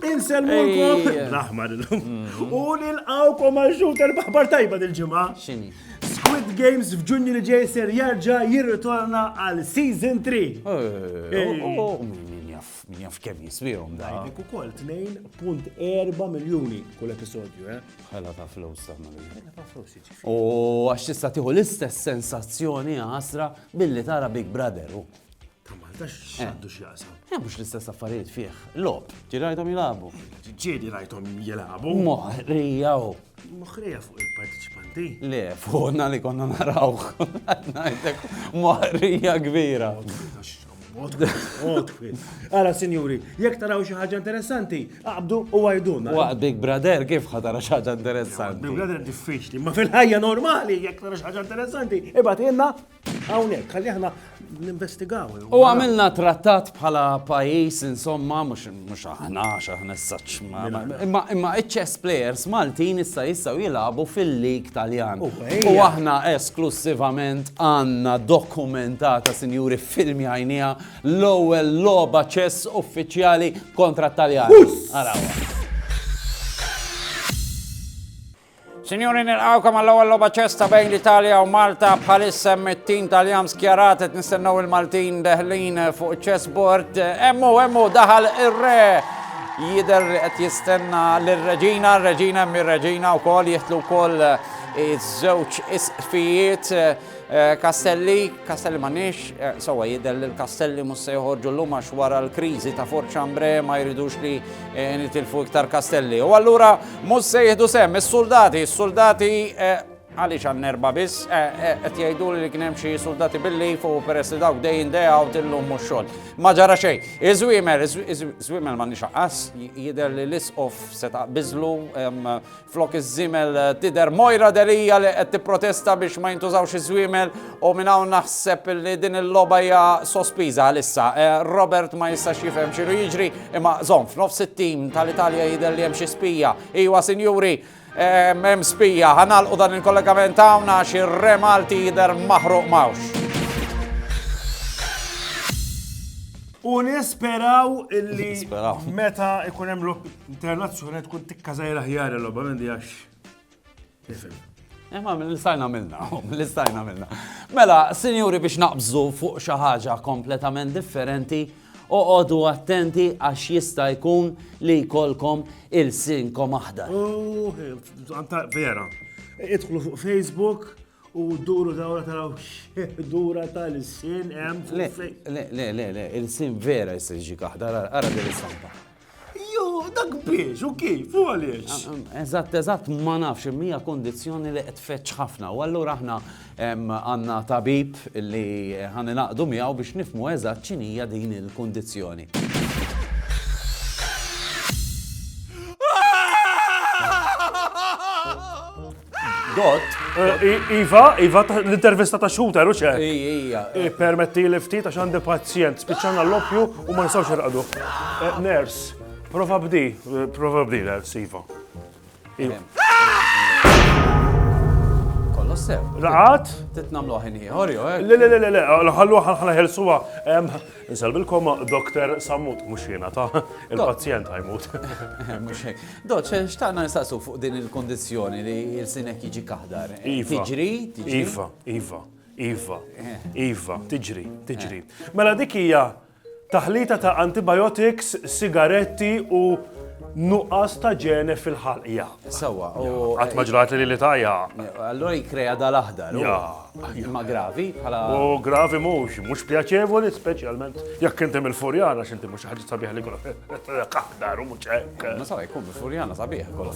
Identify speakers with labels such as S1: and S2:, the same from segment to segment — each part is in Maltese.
S1: Insellmulkom l-aħmar illum.
S2: Mm-hmm. U nilqawkom għal xulter baħbar tajba dil-ġimgħa. X'inhi?
S3: Squid Games
S2: f'Ġunju li ġej ser jarġa' jirritorna għal Season 3. Eh, oh, oh, oh,
S3: Min jaf kemm jiswihom da. Għajbek ukoll
S2: 2.4 miljuni kull episodju, eh? Ħela ta' flus
S3: ta' Ħela ta' flus jiġifieri. U
S2: għax tista'
S3: tieħu l-istess sensazzjoni għasra billi tara Big Brother. Ta' Malta
S2: x'għandu x'jaqsam. Eh, mhux l-istess affarijiet
S3: fih. Lob, ġirajthom jilagħbu. Ġieli rajthom
S2: jilagħbu. Moħrija
S3: Moħrija fuq
S2: il-partiċipanti? Le, fuqna
S3: li konna narawh. Ngħidlek moħrija kbira.
S2: Għara, sinjuri, jek taraw xi ħaġa interessanti, għabdu u għajduna. Waqt Big Brother
S3: kif ħatara xi ħaġa interessanti? Big Brother diffiċli,
S2: ma fil-ħajja normali jek tara xi ħaġa interessanti, ibad jenna Hawnhekk, għalli aħna ninvestigaw. U għamilna
S3: trattat bħala pajis, insomma, mux aħna, xaħna s-saċ. Imma iċċess players Maltin issa jissaw jilabu fil-lig taljan. U aħna esklussivament għanna dokumentata, sinjuri, filmi għajnija, l-ewel loba ċess uffiċjali kontra taljan. Għarawa. Sinjuri nilqawkom għall-ewwel logħba ċesta bejn l-Italja u Malta bħalissa hemm it-tim tal-jam skjarat qed nistennew il-Maltin deħlin fuq iċ-chessboard. Emmu, emmu daħal ir-re jidher li qed jistenna lir-Reġina, r-Reġina hemm ir-Reġina wkoll jihtlu wkoll iż-żewġ isqfijiet. Eh, Castelli, Castelli m'għandniex, eh, sewwa jidher li l-Castelli mhux se joħorġu llum għax wara l-kriżi ta' Fort Chambre ma jridux li eh, nitilfu iktar Castelli. U allura mhux se jieħdu sem is-suldati, is-suldati għaliex għan nerba biss, qed jgħidu li kien hemm xi suldati billi fuq peress li dawk dejn dejja u tillum mhux xogħol. Ma ġara xejn. Iż-żwiemel, iż-żwiemel m'għandniex aqqas, jidher li l-isqof se taqbiżlu Flok iż-żiemel tidher Moira Delia li qed tipprotesta biex ma jintużawx iż-żwiemel u minn hawn naħseb li din il-logħba hija sospiża għalissa. Robert ma jistax jifhem x'inhu jiġri imma żomm f'nofs it-tim tal-Italja jidher li hemm xi spija. Iwa sinjuri, hemm spija. Ħanalqu dan il-kollegament hawn għax ir-Re Malti jidher maħruq m'hawnx.
S2: U nisperaw illi meta ikun hemm Internazzjonali tkun tikkażajr aħjar il-logħba minn għax. Nifhem.
S3: Imma eh, l-istajna minna, l-istajna minna. Mela, sinjuri biex naqbżu fuq xi ħaġa kompletament differenti, oqogħdu attenti għax jista' jkun li jkollkom il-sinkom aħdar. Oh,
S2: vera. Idħlu fuq Facebook, U duru dawra taraw dura tal-sin hemm Le, le, le, le, le, il-sin
S3: vera jisir ġi kaħda, ara din is-santa. Jo,
S2: dak biex, u kif, u għaliex? Ah, ah, eżatt, eżatt,
S3: ma nafx, mija kondizjoni li qed feċ ħafna. U allura aħna għandna tabib li ħani naqdu miegħu biex nifmu eżatt ċinija din il-kondizjoni.
S2: Ah! Dot. Iva, Iva, l-intervista ta' xhuta, ruċe. Ija.
S3: Permetti li
S2: ftit għax għandi pazjent, spiċċana l-loppju u ma nistawx irqadu. Eh, ners, prova bdi, eh, prova bdi, ners, Iva. Iva.
S3: Kollu sew. Raqat? Titnamlu
S2: ħin ieħor,
S3: jo, eh? Le, le, le, le, ħallu
S2: ħalħalħelsuwa. Insellmilkom Doktor Sammut, mhux jiena ta, il-pazjent ħa jmut.
S3: Mhux hekk. Dott, xtaqna nistaqsu fuq din il-kondizzjoni li l-sinek jiġi kaħdar. Iva. Tiġri? Iva, iva, iva,
S2: eh. iva, tiġri, tiġri. Eh. Mela dik hija taħlita ta' antibiotics, sigaretti u nuqqas ta' ġene fil-ħalqja. Sawa, u.
S3: Għat maġrat
S2: li li tajja. Allora jikreja
S3: dal-aħdar. Imma gravi bħala. U gravi mhux,
S2: mhux pjaċevoli, speċjalment jekk inti mill-Furjana x'inti mhux ħaġa sabiħ li kolok kaħdar u mhux hekk. Ma sabiħ jkun mill-Furjana
S3: sabiħ kolok.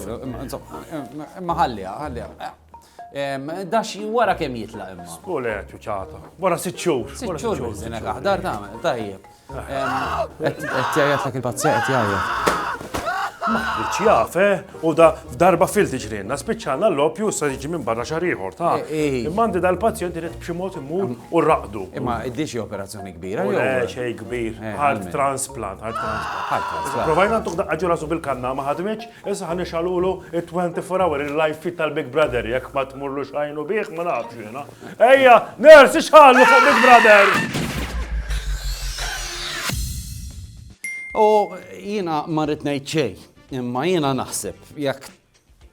S3: Imma ħallija, ħallija. Dax wara kemm jitlaq imma. Skole ċuċata.
S2: Wara sitt xhur. Sitt xhur,
S3: kaħdar tagħmel, tajjeb. Qed jgħajjat lek il-pazzja qed jgħajjat. Maħriċ
S2: jaf, eh? U da f'darba fil tiġrinna, spiċċana l-lopju sa jiġi minn barra xar ieħor, ta' eh, eh. imma għandi dal-pazjent irid b'xi mod imur u raqdu. Imma id-dixi
S3: operazzjoni kbira. Le, eh, xej kbir.
S2: Heart transplant, heart transplant. Provajna ntuq daqqa ġura su bil-kanna ma ħadmitx, issa ħan ixalulu 24 hour il-life fit tal-Big Brother jekk ma tmurlu xajnu bih ma nafx jiena. Ejja, nurse, xħallu fuq Big Brother!
S3: U jina marrit ngħid xej, imma jina naħseb jekk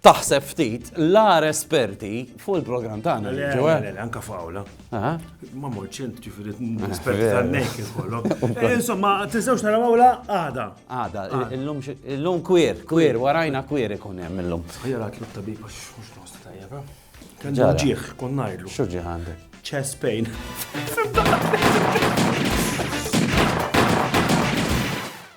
S3: taħseb ftit l-ar esperti fuq il-programm tagħna. Eh? Anka fawla.
S2: Ma morċent ġifieri esperti eh, tan-nejk ikollok. Eh, insomma, tistgħux naraw awla għada. Għada,
S3: illum kwir, kwir, warajna kwir ikun hemm illum. Ħajja tlub tabib għax
S2: mhux nostra tajjeb. Kellu ġieħ, kon ngħidlu. X'u ġieħ
S3: għandek?
S2: Chest pain.